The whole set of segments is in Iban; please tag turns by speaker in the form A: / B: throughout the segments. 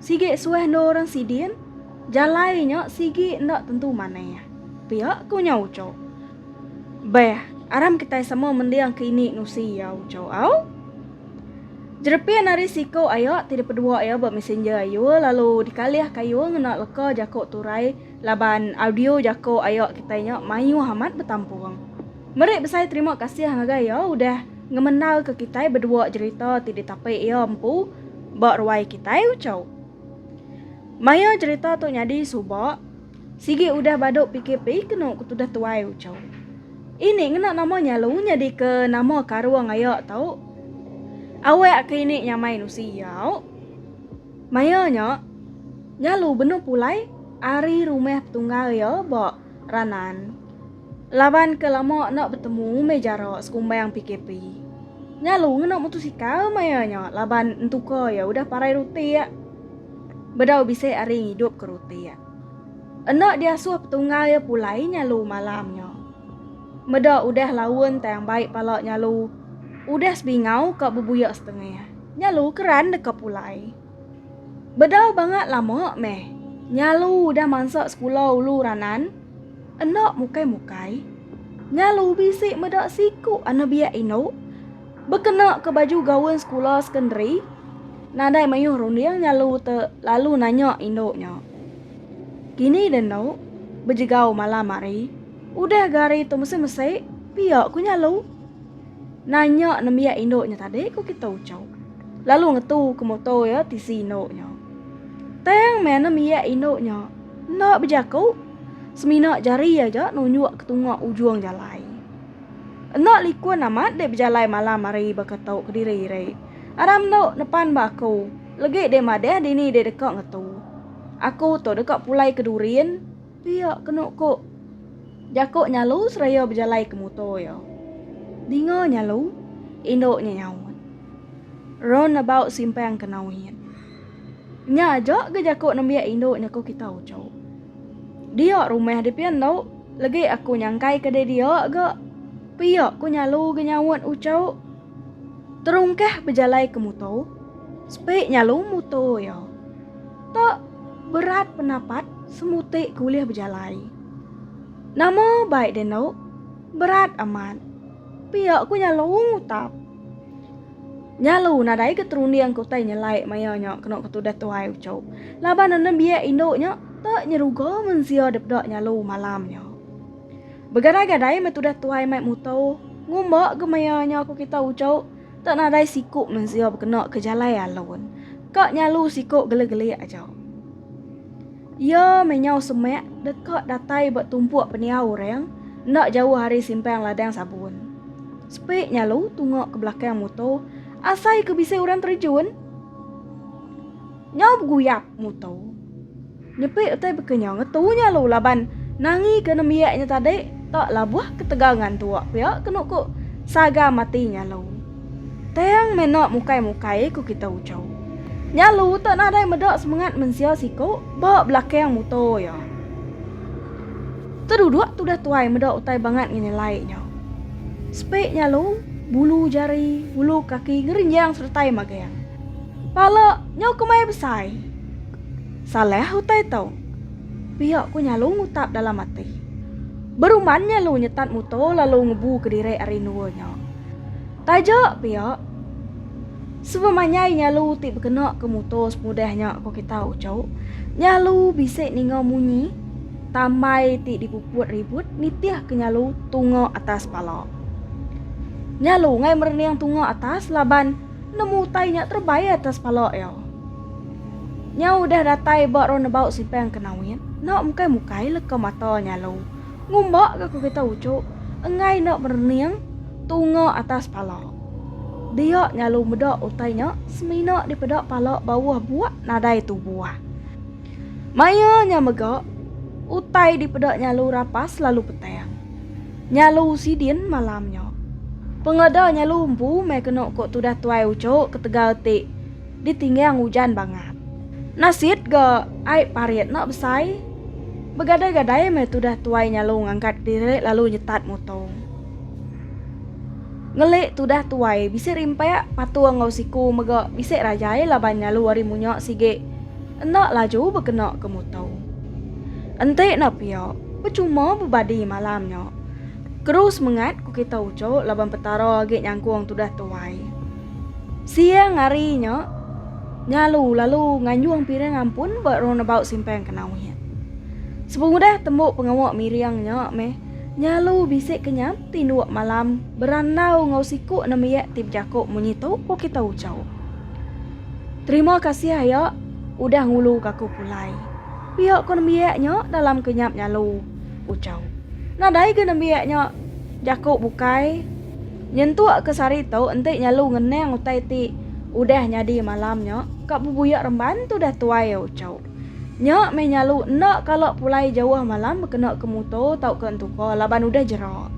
A: Sigi suah endur orang sidin, jalai nya sigi enda tentu manah, pia ku nya uco. Beh, aram kitai sama mending ke ini nusi iya uco au. Jerepin ari siku aya ti dipedua iya ba messenger ayu lalu dikalih kayu ngena leka jaku turai. Laban audio jako ayo kitai nya mayuh amat betampung. Meri besai terima kasih ngagai iya udah ngemendar ke kitai bedua jerita ti ditapi iya empu ba ruai kitai ucau. Maya jerita tu nyadi suba, sigi udah badu PKP kenu ke tudah tuai ucau. Ini ngena nama nya lu nyadi ke nama karung ayo tau. Awak ke ini nyamai nusi iya auk. Maya nya, Nyalu benung pulai ari rumah petunggal iya ba Ranan laban ke lama enda betemu meh jara sekumbang PKP. Nyalu ngena mutosikal maya nya laban entuka iya udah parai rutik. Bedau bisi ari ngidup ke rutik. Enda diasuh petunggal iya pulai Nyalu malam nya. Meda udah laun tang bai pala Nyalu udah sebingau ka bebuya setengah. Nyalu keran deka pulai. Bedau bangat lama meh Nyalu udah mansa sekula ulu ranan. Enda mukai-mukai. Nyalu bisi meda siku anebiak indu bekena ke baju gaun sekula sekondari. Nadai mayuh runding Nyalu te lalu nanya indu nya. Kini dendu bejegau malam hari. Udah ga hari tu mesik-mesik pia ku Nyalu. Nanya nembiak indu nya tadi ku kita uchu lalu ngetu ke moto iya tisi indu nya. Tang meh nembiak indu nya enda bejaku semina jari aja nunjuk ke tunga ujung jalai. Enda likun amat dek bejalai malam hari baka tu kediri iri. Aram enda nepan ba aku legi dek madah dini dek deka ngetu. Aku tu deka pulai ke Durin. Pia kenu ku jaku Nyalu seraya bejalai ke muto iya. Dinga Nyalu, indu nya nyaut. Run about simpang ke nau hin. Nya aja ga jaku nembiak indu nya ku kita uchu. Dia rumah dipia endu legi aku nyangkai ke didia ga. Pia ku Nyalu ga nyaut uchu. Terungkah bejalai ke muto, sepi Nyalu muto iya. Te berat penapat semuti ke ulih bejalai. Nama baik dia endo? Berat amat. Pia ku nya Long Utap. Nya lu nadai ke terunding ke utai nyelai maya nya kena ke tudah tuai uchu. Laban enda biak indu nya te nyeruga mensia depda nya lu malam nya. Begadai-gadai meh tudah tuai mai muto, ngumba ke maya nya ku kita uchu. Enda nadai siku mensia bekena ke jalai alun. Ka nyalu siku gelik-gelik aja. Iya meh nyau semak deka datai ba tumpuk pendiau orang enda jauh ari simpang ladang sabun. Sepi nyalu tunga ke belakang muto asai ke bisi orang terejun. Nyau beguyap muto. Nyepik utai baka nya ngetu nya lu laban nangi ke nembiak nya tadi tak labuh ketegal ngantuk pia kenu ku Saga mati nya lu. Tang mena mukai-mukai ku kita uchu. Nya lu tak nadai meda semengat mensia siku ba belakang muto iya. Teduduk tudah tuai meda utai bangat ngenyelai nya. Sepik nya lu bulu jari, bulu kaki ngerenjang seretai magang. Pala nyau kemai besai. Salah utai tu. Pia ku Nyalu ngutap dalam ati. Beruman Nyalu nyetat muto lalu ngebu kediri ari endua nya. Taja pia. Sebemanyai Nyalu ti bekena ke muto semudah nya ko kita uchu. Nyalu bisi ninga munyi tambai ti dipuput ribut nitih ke Nyalu tunga atas pala. Nyalu ngai merening tunga atas laban nemu utai nya terebai atas pala iya. Nyau udah datai ba ro nebau sipang ke nawin, enda mukai mukai leka mata nya lu. Ngumba ga ku kita uchu, enggai enda merening tunga atas pala. Dia nya lu meda utai nya semina dipeda pala bauh buak nadai tubuh. Maya nya mega utai dipeda nya lu rapas lalu petang. Nya lu sidin malam nya. Pengeda nya lu empu meh kenu ku tudah tuai uchu ketegal ti. ditinggang ujan bangat. Nasit ga ai parit enda besai. Begadai-gadai meh tudah tuai nyalung ngangkat kediri lalu nyetat mutong. Ngeli tudah tuai bisi rimpak patung enggau siku mega bisi rajai laban nyalu ari munya sigi enda laju bekena ke muto. Enti enda pia, pechuma bebadi malam nya. Keru semengat ku kita uchu laban Petara agi nyangkung tudah tuai. Siang hari nya, Ngalu lalu nganjung piring ampun ba roundabout simpang Kenau iya. Sepengudah tembu pengawa Miriang nya meh, Ngalu bisi ke nyam tinduk malam berandau enggau siku nembiak ti bejaku munyi tu ku kita ucau. Terima kasih aya udah ngulu ka aku pulai. Pia ku nembiak nya dalam ke nyap Ngalu ucau. Nadai ga nembiak nya jaku bukai. Nyentuk ke sehari tu enti nyelu ngenang utai ti udah nyadi malam nya ka bebuyak remban tudah tuai Ochau. Nya meh nyelu enda kala pulai jauh malam bekena ke muto tauka entuka laban udah jera.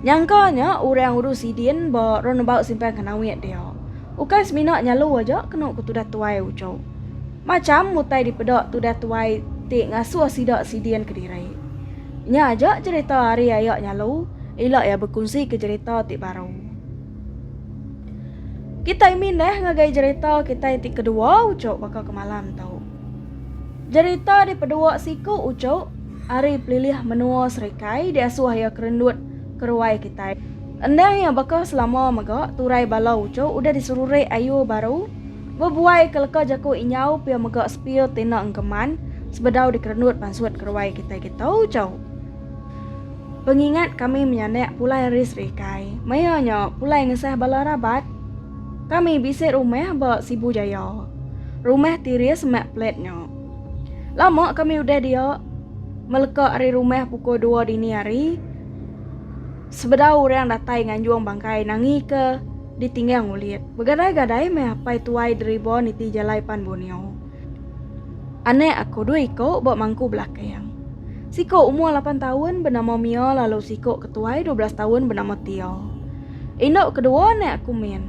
A: Nyangka nya orang urus sidin ba roundabout simpang Kenawit dia. Ukai semina nyelu aja kenu ke tudah tuai Ochau. Macham utai dipeda tudah tuai ti ngasuh sida sidin kediri. Nya aja jerita ari aya nya lu, ila iya bekunsi ke jerita ti baru. Kitai mindah ngagai jerita kitai ti kedua uchu baka ke malam tu. Jerita dipedua siku uchu ari pelilih menua serikai diasuh iya kerendut keruai kitai. Endang iya baka selama mega turai bala uchu udah diserurik ayu baru. Bebuai ke leka jaku inyau pia mega sepil ti enda engkeman sebedau dikerenut pansut keruai kitai ke tau jauh. Pengingat kami menyanak pulai ari serikai, maya nya pulai ngesah bala rabat. Kami bisi rumah ba Sibu Jaya. Rumah Tiris semak plat nya. Lama kami udah dia, meleka ari rumah pukul dua dini hari sebedau orang datai nganjung bangkai nangika. ditinggang ulit. Begadai-gadai meh apai tuai Deribo niti jalai pan Bunio. Anak aku dua iko ba mangku belakang. Siko umur lapan taun benama Mia lalu siko ke tuai dua belas taun benama Tia. Indu kedua anak aku min.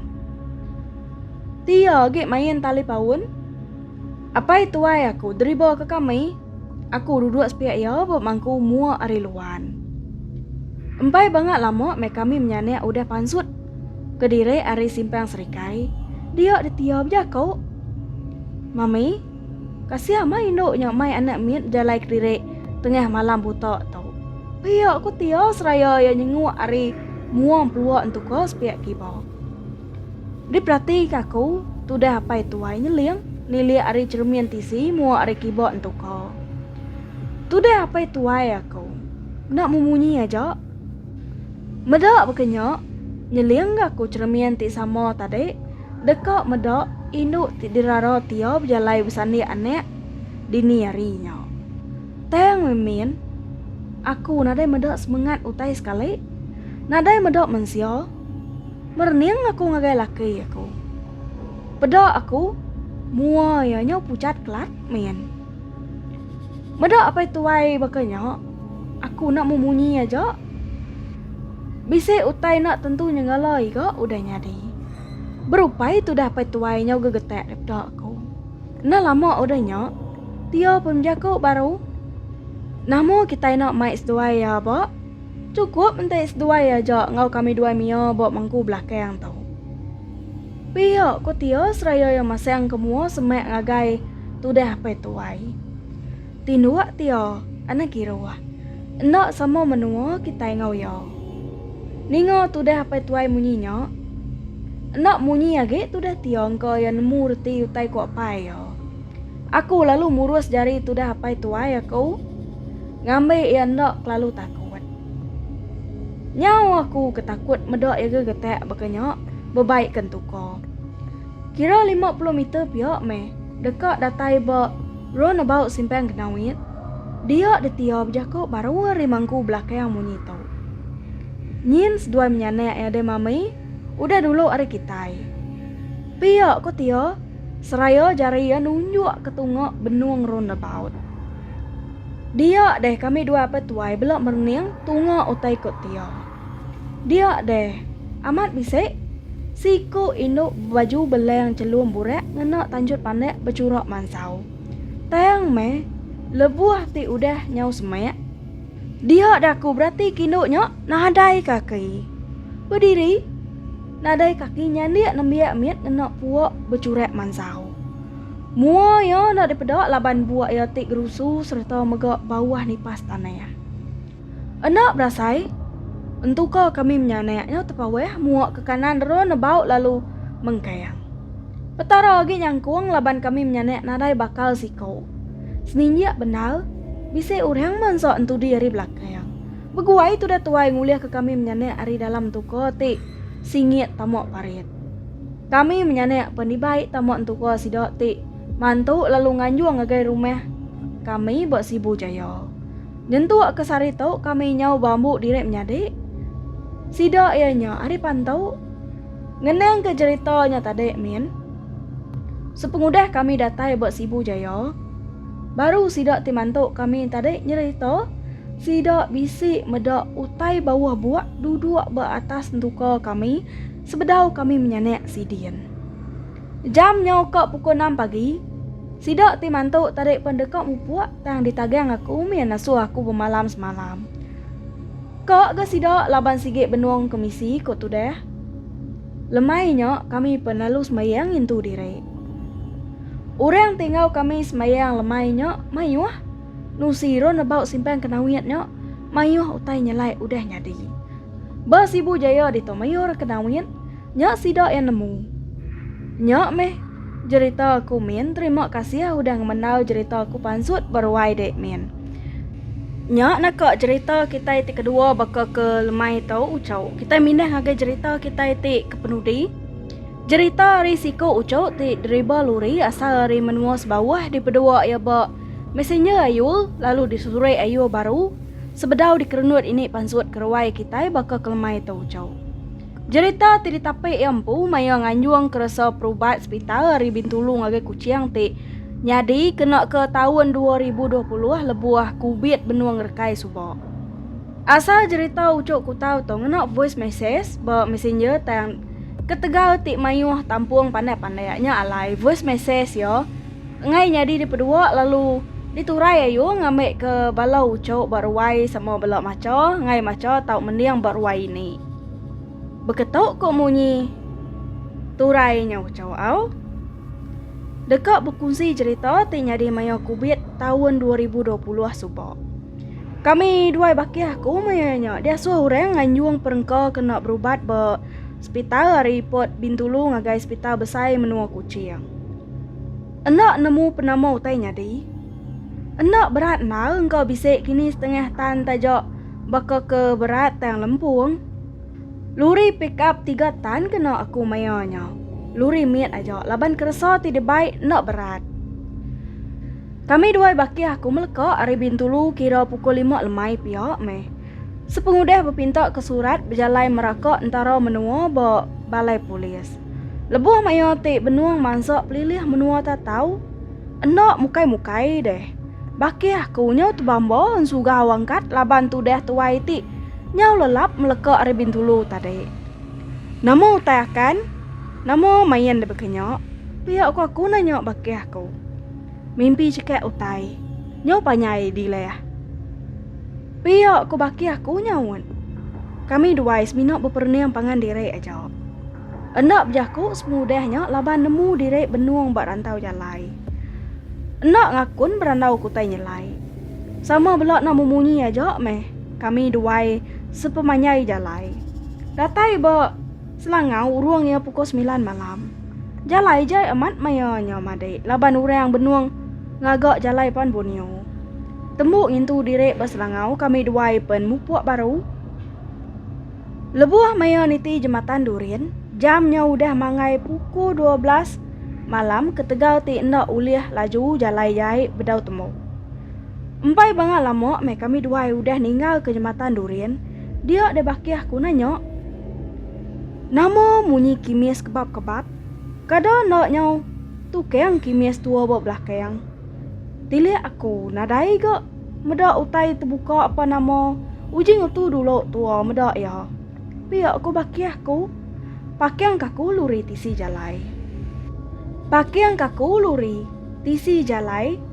A: Tia agi main tali paun. Apai tuai aku, Deribo ke kami, Aku duduk sepiak iya bemangku mua ari luan. Empai banga lama meh kami menyanak udah pansut kediri ari simpang serikai, dia ditia bejako. Mami, kasih amai indu nya mai anak mit bejalai kediri tengah malam buta tu. Pia ku Tia seraya iya nyenguk ari mua empelua entuka sepiak kiba. Diperatika aku, tudah apai tuai nyeling, nilik ari cheremin tisi, muak ari kibok entuka. Tudah apai tuai aku. Enda memunyi aja. Meda baka nya, nyelingka aku cheremin ti sama tadi, deka meda indu ti dirara Tia bejalai besandik anak dini hari nya. Tang meh min, aku nadai meda semengat utai sekali. Nadai meda mensia. Merening aku ngagai laki aku. Peda aku, mua iya nya pucat kelat min. Meda apai tuai baka nya, aku enda memunyi aja. Bisi utai enda tentu nyenggala iga udah nyadi. Berupai tudah apai tuai nyau gegetak daripada aku. Enda lama udah nya, pia pun bejaku baru. Nama kitai enda mai seduai iya ba? Chukup enti seduai aja enggau kami duai mia ba mangku belakang tu. Pia ku Tia seraya iya masang ke mua semak ngagai tudah apai tuai. Tinduk Tia anak kiruh. Enda sama menua kitai enggau iya. Ninga tudah apai tuai munyi nya. Enda munyi agi tudah Tia engka iya nemu reti utai ku apai iya. Aku lalu murus jari tudah apai tuai aku ngambi iya enda kelalu takut. Nyau aku ke takut meda iya ga getak baka nya bebai ke entuka. Kira lima puluh meter pia meh deka datai ba roundabout Simpang Genawit, dia detia bejaku baru ari mangku belakang munyi tu. Nyin seduai menyanak iya deh mami udah dulu ari kitai. Pia ku Tia. seraya jari iya nunjuk ke tunga benung roundabout. Dia deh kami dua apai tuai bela merening tunga utai ku Tia. Dia deh, amat bisi, siku indu bebaju beleng chelum burak ngena tanjut pandak bechurak mansau. Tang meh, lebuh ti udah nyau semak, Diha daku berati kindu nya nadai kaki. Bediri, nadai kaki nyandik nembiak mit ngena puak bechurak mansau. Mua iya enda dipeda laban buak iya ti gerusu sereta mega bauh nipas tanah. Enda berasai, entuka kami menyanak nya tepawah mua ke kanan dera nebau lalu mengkang. Petara agi nyangkung laban kami menyanak nadai bakal siko. Seninjak bendar, bisi orang mansa entudi ari belakang. Beguai tudah tuai ngulihka kami menyanak ari dalam tuka ti singit tama parit. Kami menyanak pen dibai tama entuka sida ti mantu lalu nganjung ngagai rumah kami ba Sibu Jaya. Nyentuk ke sehari tu kami nyau beambu diri menyadi. Sida iya nya ari Pantu ngenangka jerita nya tadi min. Sepengudah kami datai ba Sibu Jaya, baru sida ti mantu kami tadi nyerita sida bisi meda utai bauh buak duduk ba atas entuka kami sebedau kami menyanak sidin. Jam nyau ka pukul enam pagi, sida ti mantu tadi pen deka mupuk tang ditagang aku min asuh aku bemalam semalam. Ka ga sida laban sigi benung kemisi, ku Tudah. Lemai nya kami penalu sembahyang ngintu diri. Orang ti enggau kami sembahyang lemai nya mayuh. Nusi ro nebau simpan kenawit nya mayuh utai nyelai udah nyadi. Ba Sibu Jaya ditu mayuh kenawit nya sida iya nemu. Nya meh jerita aku min terima kasih udah ngemendau jerita aku pansut beruai dek min. Nya naka jerita kitai ti kedua baka ke lemai tu ucau. Kitai mindah ngagai jerita kitai ti kepenudi. Jerita ari siku ucu ti deriba luri asal ari menua sebawah dipedua iya ba Messenger ayu lalu disusuri ayu baru sebedau dikerenut ini pansut ke ruai kitai baka ke lemai tu ucau. Jerita ti ditapi iya empu maya nganjung keresa perubat sepital ari Bintulu ngagai Kuching ti nyadi kena ke taun 2020 lebuh Kubit benung rekai suba. Asal jerita uchu kutau tu ngena voice message ba messenger tang ketegal ti mayuh tampung pandai-pandai nya alai voice message iya Enggai nyadi dipedua lalu diturai ayu ngambi ke bala uchu ba ruai sama bela macha enggai macha tau mending ba ruai ini. Beketu ko munyi turai nya uchu au. Deka bekunsi cerita ti nyadi maya kubit taun dua ribu dua puluh suba. Kami duai bakih aku maya nya diasuh orang nganjung perengka kena berubat ba sepital ari Port Bintulu ngagai sepital besai menua Kuching. Enda nemu penama utai nyadi. Enda berat endar engka bisi kini setengah tan taja baka ke berat tang lempung. Luri pick up tiga tan kena aku maya nya. Luri mit aja laban keresa ti dibai enda berat. Kami duai bakih aku meleka ari Bintulu kira pukul lima lemai pia meh. Sepengudah bepinta ke surat bejalai meraka entara menua ba Balai Polis. Lebuh maya ti benung mansa pelilih menua tatau, enda mukai-mukai deh. Bakih ku nyau tebamba ensugau angkat laban tudah tuai ti nyau lelap meleka ari Bintulu tadi. Nama utai akan? Nama main debaka nya? pia ku aku nanya bakih ku. Mimpi chekak utai. Nyau panjai dilih. Pia ko baki aku nyaut. Kami duai semina beperening pangan diri aja. Enda bejaku semudah nya laban nemu diri benung ba rantau jalai. Enda ngakun berandau ke utai nyelai. Sama bela enda memunyi aja meh kami duai sepemanjai jalai. Datai ba. Selangau urung iya pukul semilan malam. Jalai jai amat maya nya madik laban urang benung ngaga jalai pan Borneo. Tembu ngintu diri ba Selangau kami duai pen mupuk baru. Lebuh maya niti Jematan Durin, jam nya udah manggai pukul dua belas malam ketegal ti enda ulih laju jalai jai bedau tembu. Empai banga lama meh kami duai udah ninggalka Jematan Durin, dia deh bakih ku nanya. Nama munyi kimis kebap-kebap? Kada enda nyau tukang kimis tua ba belakang. Tilik aku nadai ga meda utai tebuka apa nama uji ngetu dulu tua meda iya. Pia ku bakih ku. Pakang kaku luri tisi jalai. Pakang kaku luri tisi jalai.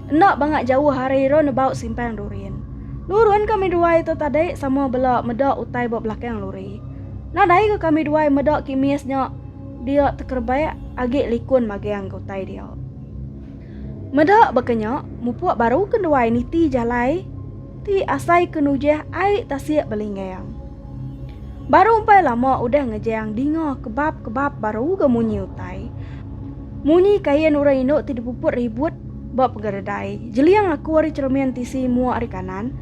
A: Enda banga jauh ari ira nebau simpang Durin. Nurun kami duai tu tadi sama bela meda utai ba belakang luri. Nadai ke kami duai meda kimis nya dia tekerebak agi likun magang ke utai dia. Meda baka nya, mupuk baru ke duai niti jalai ti asai ke nujah ai tasik belinggang. Baru empai lama udah ngejang dinga kebap-kebap baru ga munyi utai. Munyi kain orang indu ti dipuput ribut ba pegara dai. Jeliang aku ari cermin tisi mua ari kanan.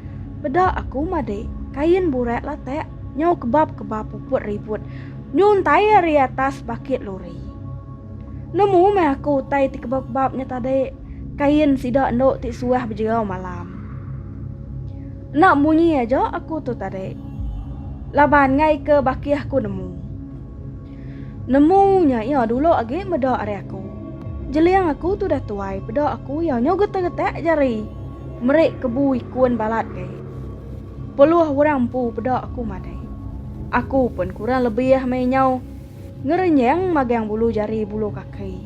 A: Peda aku madi. Kain burak latak nyau kebab kebab puput ribut nyuntai ari atas bakit lori. Nemu meh aku utai ti kebab kebab nya tadi. Kain sida endu ti suah bejegau malam. Enda munyi aja aku tu tadi. Laban ngaika bakih aku nemu. Nemu nya iya dulu agi meda ari aku. Jeling aku tudah tuai peda aku iya nyu getak-getak jari meri kebu ikun balat gai. Peluh orang empu peda aku madai. Aku pun kurang lebih meh inyau ngerenyeng magang bulu jari bulu kaki.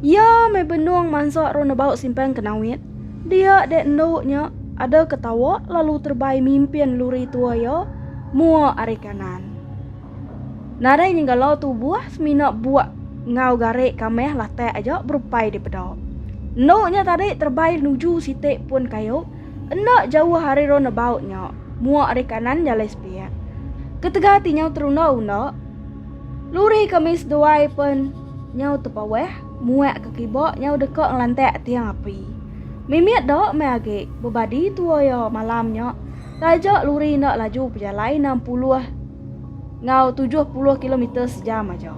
A: Iya meh benung mansa ro nebau simpang ke Nawit. Dia dek endu nya ada ke tawa lalu terbai mimpin luri tua iya mua ari kanan. Nadai nyenggalau tubuh semina buak enggau garik ka meh latak aja berupai dipeda. Endu nya tadi terbai nuju siti pun kayu enda jauh ari ro nebau nya mua ari kanan jalai sepiak. Ketegal ti nyau terunda-unda, Luri kami seduai pen nyau tepawah muak ke kiba nyau deka ngelantak tiang api. Mimit da meh agi bebadi tua iya malam nya taja luri enda laju pejalai enam puluh enggau tujuh puluh kilometer sejam aja.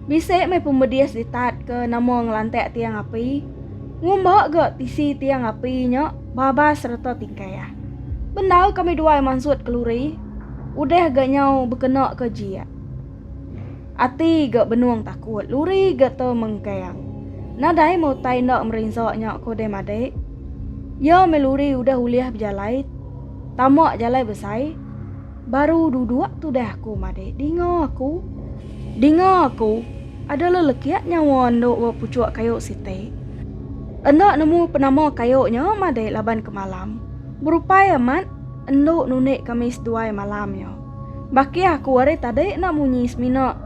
A: Bisi meh pemedis ditat ke nama ngelantak tiang api. Ngumba ga tisi tiang api nya babas sereta tingkah. Bendar kami duai mansut ke luri Udah ga nyau bekena ke jia. Ati ga benung takut luri ga te mengkang. Nadai meh utai enda merinsa nya ko deh madik. Ia meh luri udah ulih bejalai tama jalai besai baru duduk tudah aku madik dinga aku dinga aku ada lelekit nyawa endu ba pucuk kayu siti. Enda nemu penama kayu nya madik laban kemalam berupai amat. Endu nunik kami seduai malam nya. Baki aku ari tadi enda munyi semina.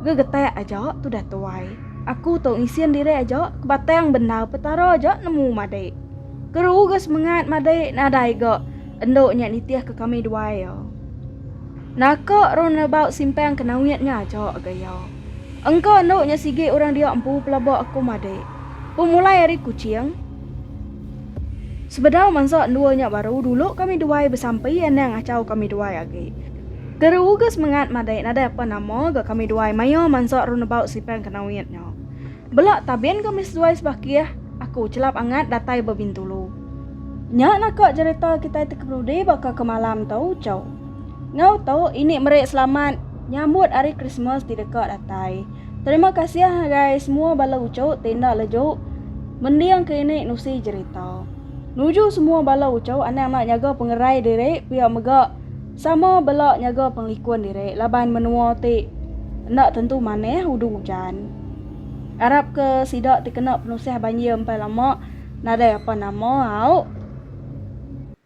A: Gegetak aja tudah tuai. Aku tu ngisin diri aja ke batang bendar Petara aja nemu madi. Keru ga semengat madi nadai ga endu nya nitihka kami duai iya. Naka Ron Lebau simpang ke Nawit nya aja ga iya. Engka endu nya sigi orang dia empu pelaba aku madi. Pemulai ari Kuching. Sebedau mansa endua nya baru dulu kami duai besampi anang achau kami duai agi. Teruga semengat madai nadai apa nama ga kami duai maia mansa renebau sipang ke Nawit nya. Bela tabin kami seduai sebakih, aku chelap angat datai ba Bintulu. Nya naka jerita kitai ti keperudi baka ke malam tu, Chou. Enggau tu, ini meri selamat nyambut Hari Krismas ti deka datai. Terima kasih hagai semua bala uchu ti enda leju mending ke ini nusi jerita. Nuju semua bala uchu anang enda nyaga pengerai diri pia mega sama bela nyaga pengelikun diri laban menua ti enda tentu manah udu ujan. Arap ke sida ti kena penusah banjir empai lama nadai apa nama au.